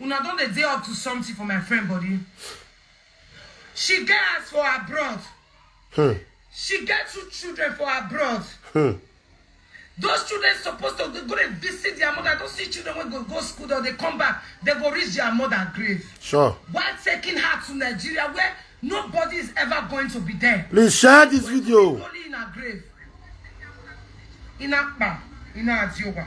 Una don dey dey up to something for my friend body. She get house for abroad. She get two children for abroad. Those children supposed to go dey visit their mother. I don see children wey go go school or dey come back, they go reach their mother grave. Sure. While taking her to Nigeria where nobody is ever going to be there. Please share this video. Only in her grave. In Akpa, in Aziowa.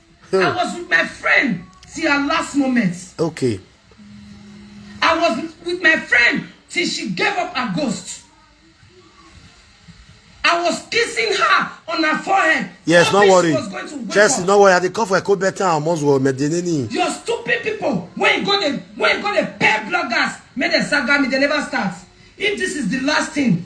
Hmm. I was with my friend till her last moment. Okay. I was with my friend till she gave up her ghost. I was kissing her on her forehead. Yes, no worry. Chelsea, no worry. I dey come for a cold better and almost well. Medinini. Your stupid people. When you go the when you go the pair bloggers, make them saga me. They never start. If this is the last thing,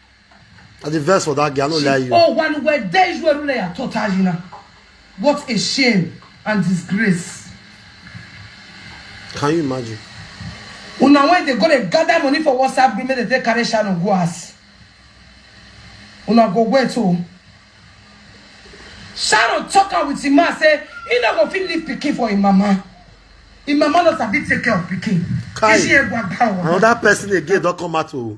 I dey vex for that girl, I no lie you. Oh, one where there is where rule ya totajina. What a shame and disgrace. Can you imagine? Una when they go dey gather money for WhatsApp group, make they take carry Shannon go house. Una go wait oh. Sharon talk am with him man say he no go fit leave pikin for him mama. Him mama no sabi take care of pikin. Kai, Kishi egwa gbawo. Another person again don come out o.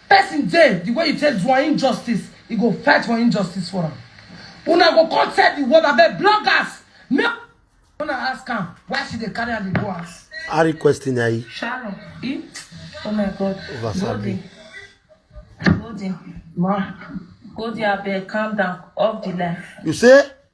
Person dey the way you take do am injustice e go fight for injustice for am una go come tell the world abeg bloggers make una ask am why she dey carry am dey go house. I requesting I Sharon, e? Oh my God. Over Goldie. Goldie. Ma. Goldie, abeg, calm down. Off the life. you say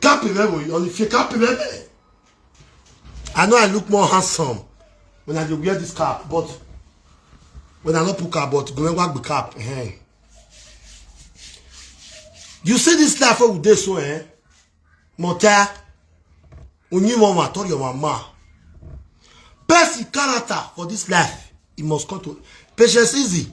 Cap is very well. If you cap is very I know I look more handsome when I wear this cap, but when I not put cap, but go and work the cap. Eh. You see this life with this one, eh? Mota, only one man told your mama. Best character for this life, it must come to patience easy.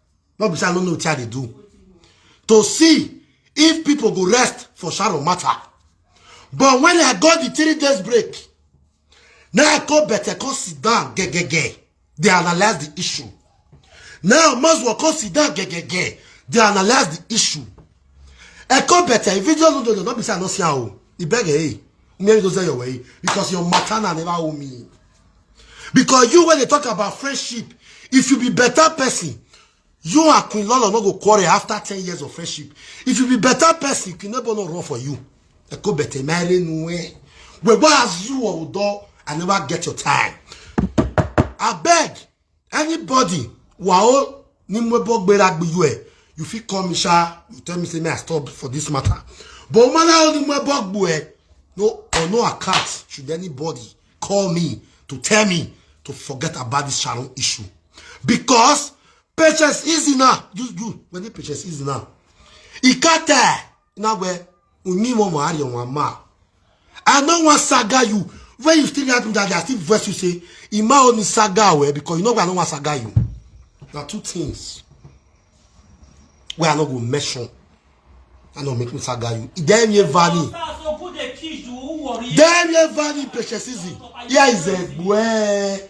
no be say i no know wetin i dey do to see if people go rest for sharon matter but when i got the three days break now i go better come sit down gegege dey analyse the issue now maswa come sit down gegege dey analyse the issue i go better if you just no do no be say i no see am o ibege hey mmeri go sell your way because your matter na never owe me. because you when they talk about friendship if you be better person you and Queen Lolo no go quarrel after ten years of friendship if you be better person Queen Lolo no run for you eko bete mere nuwe where was you or I never get your time I beg anybody wao ni mo bo gbera gbe you e you fit call me sha you tell me say me i stop for this matter but man how ni mo bo gbo e no on no account should anybody call me to tell me to forget about this sharon issue because patience easy now you you when the patience easy now ikate Inagwe, Unimo Mahari on one mouth. I no wan saga you when you still get me that day i still vex you say ima only saga well because you know why i no wan saga you na two things wey i no go mention i no make me saga you dem ye valley dem ye valley patience easy here is a boy.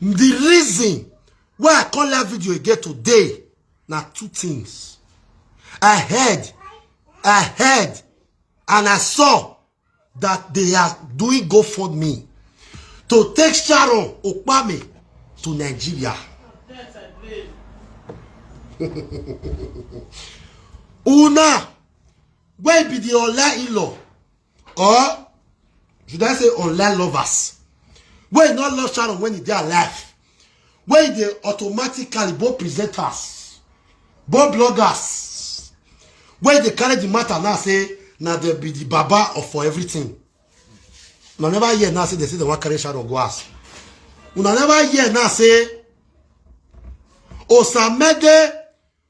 The reason why I call that video again today na two things. I heard, I heard, and I saw that they are doing GoFundMe to take Sharon Okpame to Nigeria. Una, where be the Ola in-law? or should i say online lovers wey no love sharon when e dey alive wey dey automatically both presenters both bloggers wey dey carry the matter now say na dem be the baba of for everything una never hear now say dem say dem wan carry sharon go house una never hear now say osamede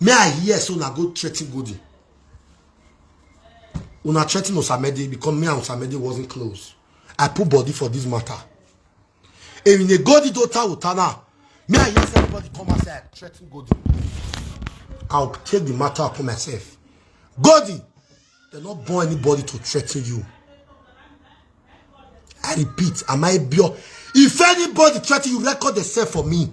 may i hear so una go threaten golden una threaten osamede because me and osamede wasn't close i put body for this matter èyìn ni golden tó ta òta náà may i hear say everybody come outside threaten golden i will take the matter upon myself golden they no born anybody to threaten you i repeat am i pure if anybody threaten you record yourself for me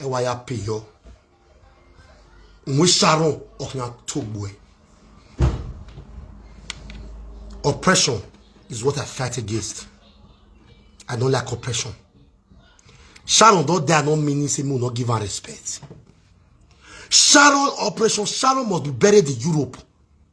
E wa ya pe yo. Nwe sharon okna togbo e. Oppression is what I fight against. I don't like oppression. Sharon don't dare not meaning say me not give her respect. Sharon operation Sharon must be buried in Europe.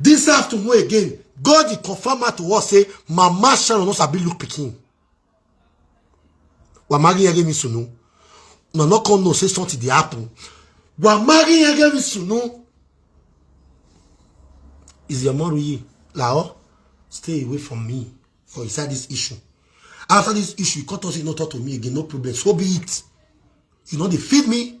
This afternoon again, God he confirm her to us say, Mama Sharon no sabi look pikin. Wa marry yege mi sunu. No no come no say something dey happen. Wa marry yege mi sunu. Is your mom ye? Lao, stay away from me for inside this issue. After this issue, you cut us, you not talk to me again, no problem. So be it. You know they feed me,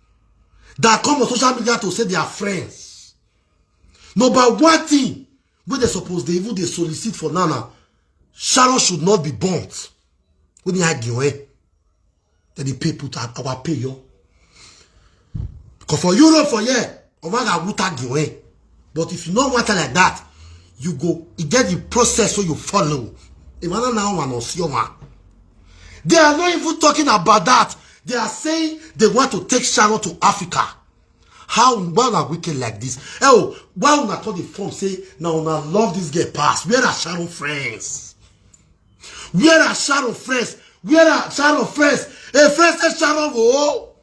that come on social media to say they are friends number one thing wey they suppose dey even dey solicit for now na sharon should not be burnt wey dey hide the way dem dey pay put our pay yo because for europe for here omaga wuta the way. But if you no want her like that, you go, you get the process so you follow. If I don't know one or see one. They are not even talking about that. They are saying they want to take Sharon to Africa. How why una wicked like this? Oh, why una turn the form say now una love this girl pass? Where are Sharon friends? Where are Sharon friends? Where are Sharon friends? Hey, friends say Sharon oh.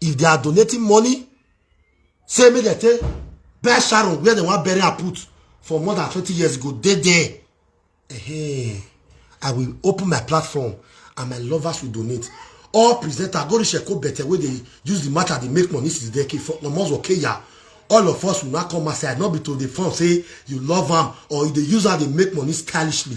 if they are donating money say make dem take bury sharon where dem wan bury her put for more than twenty years ago dey there hey, i will open my platform and my lovers will donate all presenter go reach eko bete wey dey use the matter dey make money since decade for almost okeya all of us will now come outside not be to dey form say you love am or you dey use am dey make money stylishly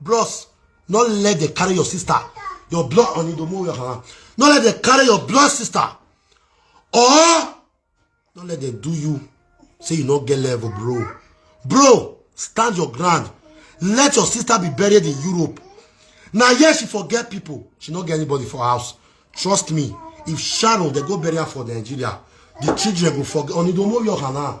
Bros, no let them carry your sister, your blood on the move. No let them carry your blood sister. Or no let them do you. Say you not get level, bro. Bro, stand your ground. Let your sister be buried in Europe. Now, yes, she forget people. She not get anybody for house. Trust me. If Sharon, they go bury her for Nigeria. The children go forget. Onidomo Yohana.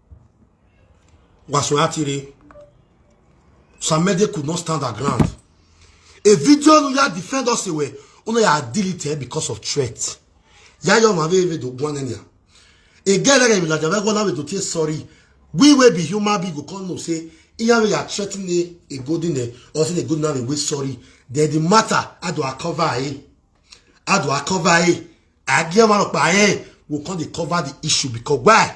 Wàsíù Àtìrẹ Samede could not stand her ground a video no ya defend us ewe una ya delete because of threat ya yo ma be do gwan enya e get like we like we go na we to say sorry we will be human being go come know say iya we are threatening a good in there or say a good now we sorry then the matter how do I cover it how do I cover it I get one of my hand will come dey cover the issue because why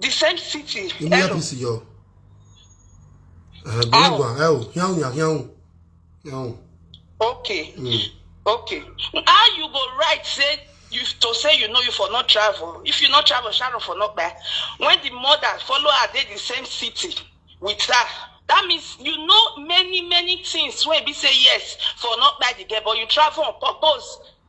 the same city Imi hello apisi yo. Eh, Bangwa, eh, hiao ya hiao. Hiao. okay Mm. okay how you go write say you to say you know you for not travel if you not travel sharon for not buy when the mother follow her dey the same city with her that means you know many many things wey be say yes for not buy the girl but you travel on purpose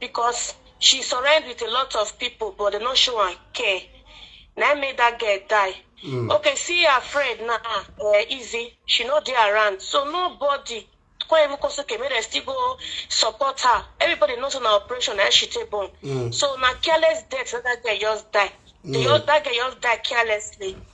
Because she surround with a lot of people but dem no show am care. Na im make that girl die. Okay see her friend now um Izzy, she no dey around so nobody come even come say okay make dem still go support her. Everybody know say na operation na im she take born. So na careless death na that girl just die. The oth- That girl just die carelessly.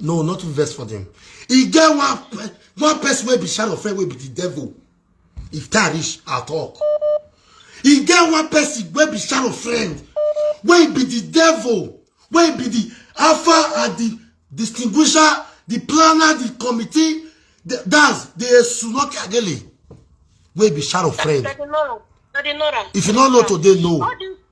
no not to vex for them e get one pe- one person wey be shadow friend wey be the devil if time reach i talk e get one person wey be shadow friend wey be the devil wey be the alpha and the distinguisher the planner the committee the, that's the esunoke agele wey be shadow friend Daddy Nora. Daddy Nora. if you no know today know All this,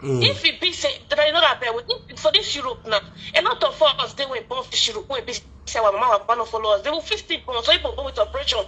Mm. If it be say, but I know that bear, if, for this Europe now, a lot of us they were born fish Europe, we be say our mama were born follow us. They will feel still born, so people born with operation.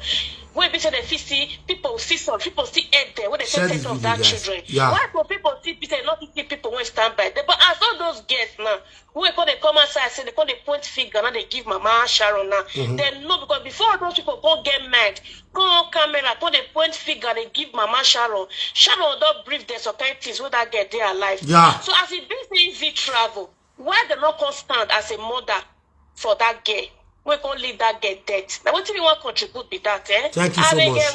We be say they feel see people see some people see head there when they say take of that children. Yeah. Why for people see be say not see people when stand by them? But as all those girls now, wey come dey come outside say dey come dey point finger now dey give mama sharon now mm-hmm. dem know because before all those people come get mind come on camera come dey point finger dey give mama sharon sharon don brief dem some kind things wey that girl dey alive yeah. so as e be say e fit travel why dem no come stand as a mother for that girl wey come lead that girl death na wetin we wan contribute be that eh. thank you so much.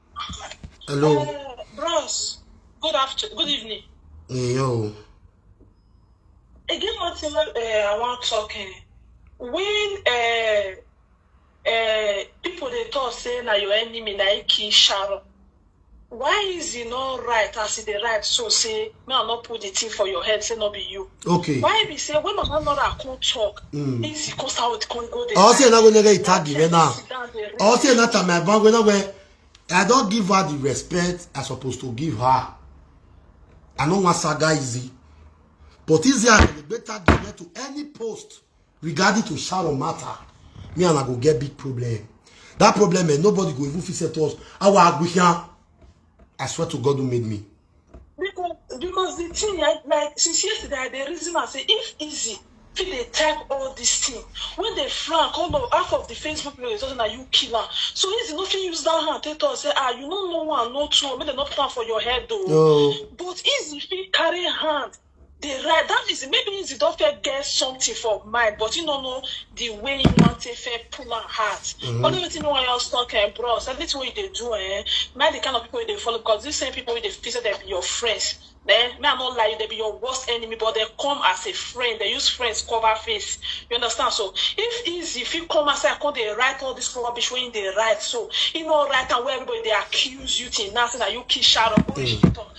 Hello. Uh, bros, good after, good evening. Hey, yo. Again, one thing uh, I want talking. Eh. When uh, uh, people they talk say na your enemy na kill Sharon, why is it not right as it right so say me I no put the thing for your head say no be you. Okay. Why be say when Mama Nora come talk, mm. easy cause how it come go there. All say na go nega itagi me now. All say na ta my bang we na we. I don't give her the respect I supposed to give her. I no want saga easy. But easy I go better give to any post regarding to Sharon matter. Me and I go get big problem. That problem, eh, nobody go even fix it to us. Our Aguian, I swear to God who made me. Because because the thing like like since yesterday I dey reason am say if easy fit dey type all this thing when dey flank all of half of the Facebook people dey talk say na you kill am so easy no fit use that hand take talk say ah you no know one no two make dem no put am for your head o No. but easy fit carry hand dey write that means maybe he don first get something for mind but he no know the way he wan take first pull am out mm-hmm. only wetin me wan yarn talk eh bros everything wey you dey do eh na the kind of people you dey follow because these same people wey dey feel say dem be your friends eh me i no lie you dem be your worst enemy but dem come as a friend dem use friends cover face you understand so if easy fit come outside come dey write all this rubbish wey he dey write so he no write am wey everybody dey accuse you till now say na you kill sharon go reach the mm. top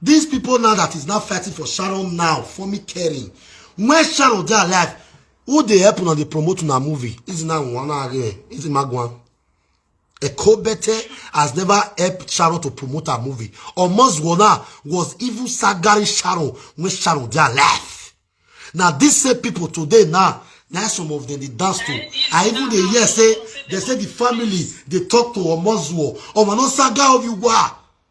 These people now that is now fighting for Sharon now, for me caring. When Sharon dey alive, who dey help una dey promote una movie? Is now one again. Is Magwan. Ekobete has never helped Sharon to promote her movie. Omozwana was even sagaring Sharon when Sharon dey alive. Now these same people today now na some of them dey dance to i even dey hear say they say the family dey talk to omozuo omo no saga of you wa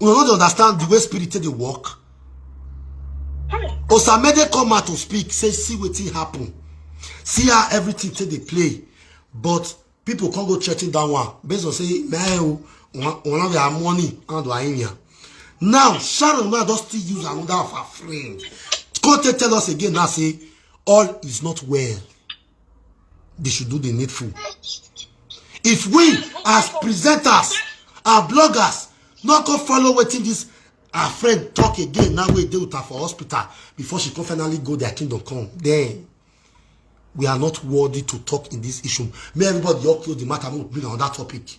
una no dey understand the way spirit take dey work osamede come out to speak say see wetin happen see how everything take dey play but people come go threaten that one based on say meh o one of their money and wa area now sharon now don still use another of her friend come take tell us again now say all is not well they should do the needful if we as presenters our bloggers no go follow wetin this our friend talk again now wey dey with her for hospital before she come finally go their kingdom come then we are not worthy to talk in this issue may everybody just close the matter make we bring another topic.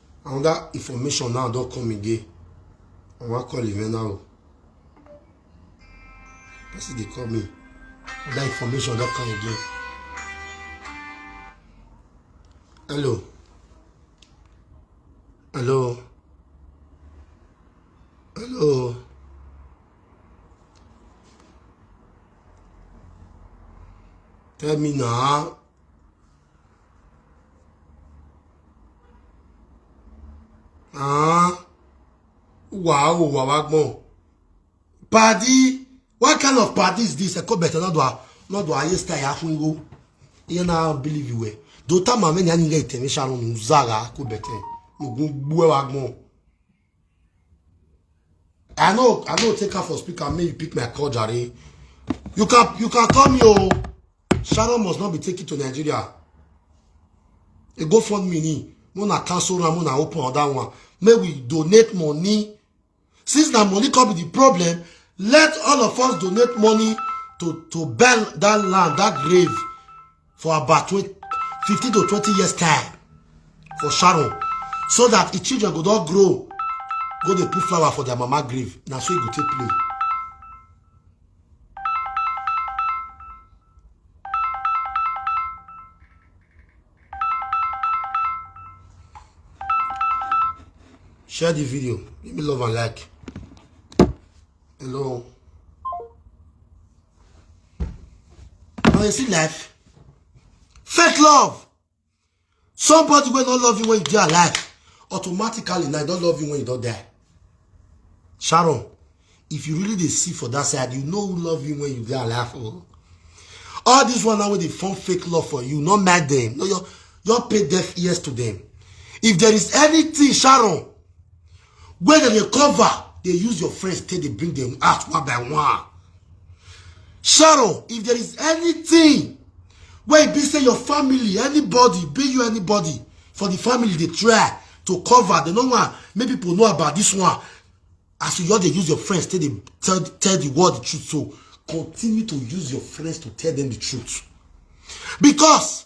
another information now don come again i wan call Ivena o person dey call me another information don come again hello hello hello tell me na Ah, wow, wow, wow, wow. Paddy, what kind of party is this? I call better not do I not do I yes tie afun go. You now believe you were. Do ta ma me nya nge ite me sharon uzaga ko better. Mo gun gbo wa gbon. I know I know take her for speaker make you pick my call jare. You can you can call me oh. Sharon must not be taken to Nigeria. E go fund me ni. Mo na cancel am, mo na open other one. May we donate money. Since na money come be the problem, let all of us donate money to to burn that land, that grave. for about 20, 15 to 20 years time for sharon so that the children go don grow go dey put flower for their mama grave na so e go take play. share the video give me love and like hello. Now you see life. Fake love. Somebody will not love you when you are alive. Automatically, now don't love you when you don't die. Sharon, if you really dey see for that side, you know who love you when you dey alive. Oh. All this one now wey dey form fake love for you, not mad them. No, your your pay deaf ears to them. If there is anything, Sharon, wey dem dey cover dey use your friends take dey bring dem out one by one sharo if there is anything wey be say your family anybody be you anybody for the family dey try to cover dem no wan make people know about this one as you just dey use your friends take dey tell tell the world the truth so continue to use your friends to tell them the truth because